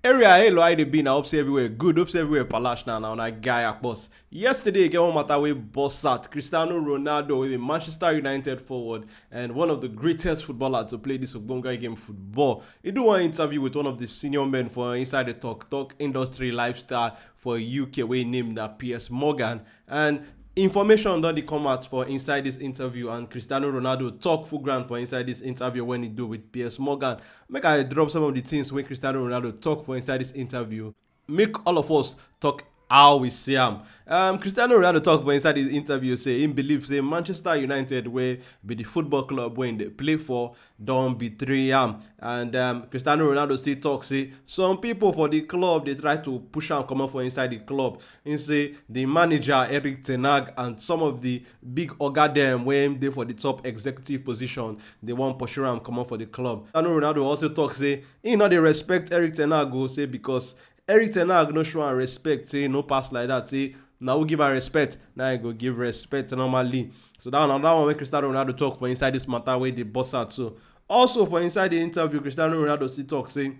Area hey lo I dey be na hope say everywhere good hope say everywhere palash na na una guy akpos. Yesterday e get one matter wey burst out Cristiano Ronaldo wey be Manchester United forward and one of the greatest footballer to play this ogbonge game football. E do one interview with one of the senior men for inside the talk talk industry lifestyle for UK wey name na Piers Morgan and information don dey come out for inside dis interview and cristiano ronaldo tok full ground for inside dis interview wen e do wit piers morgan make i drop some of di tins wey cristiano ronaldo tok for inside dis interview make all of us tok how we see am um cristiano ronaldo tok for inside dis interview say im believe say manchester united wey be di football club wey im dey play for don betray am and um, cristiano ronaldo still talk say some people for the club dey try to push am comot for inside the club He say the manager eric ten Hag and some of the big oga dem wey dey for the top executive position dey wan pursue am comot for the club cristiano ronaldo also talk say he no dey respect eric ten Hag o say because Eric Ten Hag no show am respect say no pass like that say na who give am respect na I go give respect normally so that one another one wey Cristiano Ronaldo talk for inside this matter wey dey burst out so also for inside the interview Cristiano Ronaldo still talk say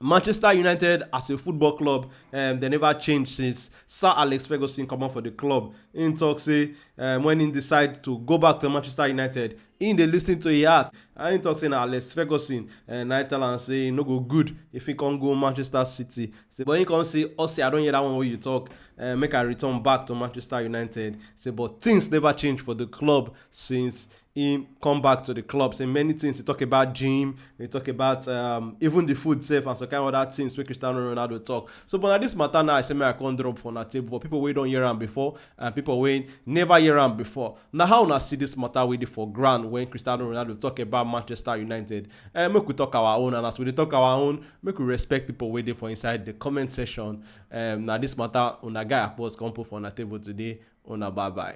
Manchester United as a football club um, they never change since Sir Alex Ferguson come out for the club. In talk say um, when he decide to go back to Manchester United, He dey listen to him heart and he talk say na Alex Ferguson eh, na him tell am say e no go good if he come go Manchester City. Say but he come say Ossie I don hear that one wey you talk eh, make I return back to Manchester United. Say but things never change for the club since he come back to the club. Say many things he talk about gym, he talk about um, even the food sef and some kind other things wey Cristiano Ronaldo talk. So but na this matter now I say make I come drop for una table for people wey don hear am before and pipo wey neva hear am before. Na how una see dis mata wey dey for ground wen Cristiano Ronaldo tok about Manchester United? um Make we tok our own and as we dey tok our own, make we respect pipo wey dey for inside di comment section. um Na dis mata una guy Akpos come put for una table today. Una bye bye.